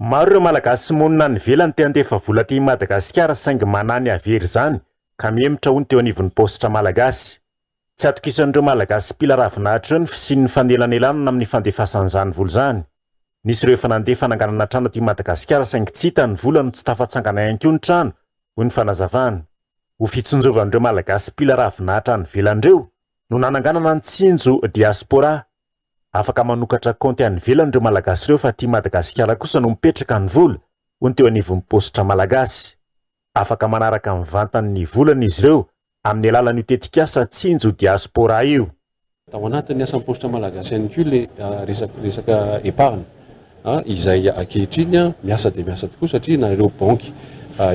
Maro ireo Malagasy monina any ivelany te handefa vola aty Madagasikara saingy manahy ny hahavery izany ka mihemotra hono teo anivon'ny paositra malagasy. Tsy atokisan'ireo Malagasy mpila ravinahitra ireo ny fisian'ny fanelanelanana amin'ny fandefasan'izany vola izany. Nisy ireo efa nandeha fananganana trano aty Madagasikara saingy tsy hita ny vola no tsy tafatsangana ihany koa ny trano, hoy ny fanazavana. Ho fitsinjovan'ireo Malagasy mpila ravinahitra any ivelany ireo no nananganana ny Tsinjo Diaspora Afaka manokatra kaonty any ivelany ireo Malagasy ireo fa aty Madagasikara kosa no mipetraka ny vola, hoy ny teo anivon'ny paositra malagasy. Afaka manaraka mivantana ny volany izy ireo amin'ny alalan'io tetikasa Tsinjo Diaspora io. Tao anatin'ny asan'ny paositra malagasy ihany koa ilay resaka resaka épargne. izay ankehitriny miasa dia miasa tokoa satria na ireo banky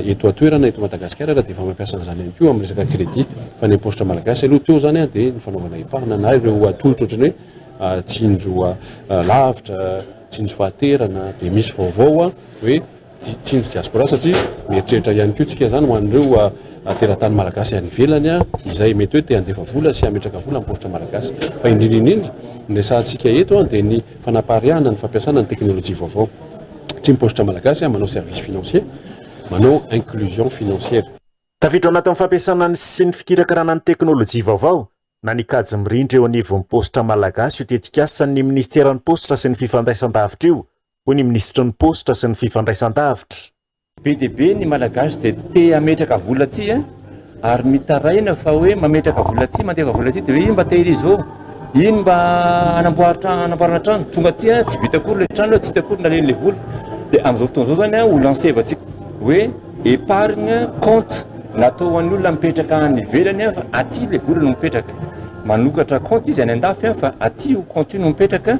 eto an-toerana eto Madagasikara ary dia efa mampiasa an'izany ihany koa amin'ny resaka crédit fa ny am-paositra malagasy aloha teo izany dia ny fanaovana eparina na ireo tolotra ohatran'ny hoe tsinjo lavitra, tsinjo fahaterana dia misy vaovao hoe Tsinjo diaspora satria mieritreritra ihany koa tsika izany ho an'ireo teratany malagasy any ivelany izay mety hoe te handefa vola sy hametraka vola amin'ny paositra malagasy. Fa indrindra indrindra ny resahantsika eto dia ny fanapaharihana ny fampiasana ny teknolojia vaovao. Satria ny paositra malagasy manao service financier, manao inclusion financière. Tafiditra ao anatin'ny fampiasana ny sy ny fikirakarana ny teknolojia vaovao na ny kajy mirindra eo anivon'ny paositra malagasy io tetikasa ny minisiteran'ny paositra sy ny fifandraisan-davitra io hoy ny minisitry ny Paositra sy ny Fifandraisandavitra. Be dia be ny Malagasy izay te hametraka vola aty an! ary mitaraina fa hoe mametraka vola aty, mandefa vola aty dia hoe iny mba tehirizo ô! iny mba hanamboara trano, hanamboarana trano, tonga aty an! tsy vita akory ilay trano an! tsy hita akory naleny ilay vola, dia amin'izao fotoana izao izany an! ho lansevantsika hoe épargne compte natao ho an'ny olona mipetraka any ivelany an! fa aty ilay vola no mipetraka, manokatra compte izy any an-dafy an! fa aty io compte io no mipetraka.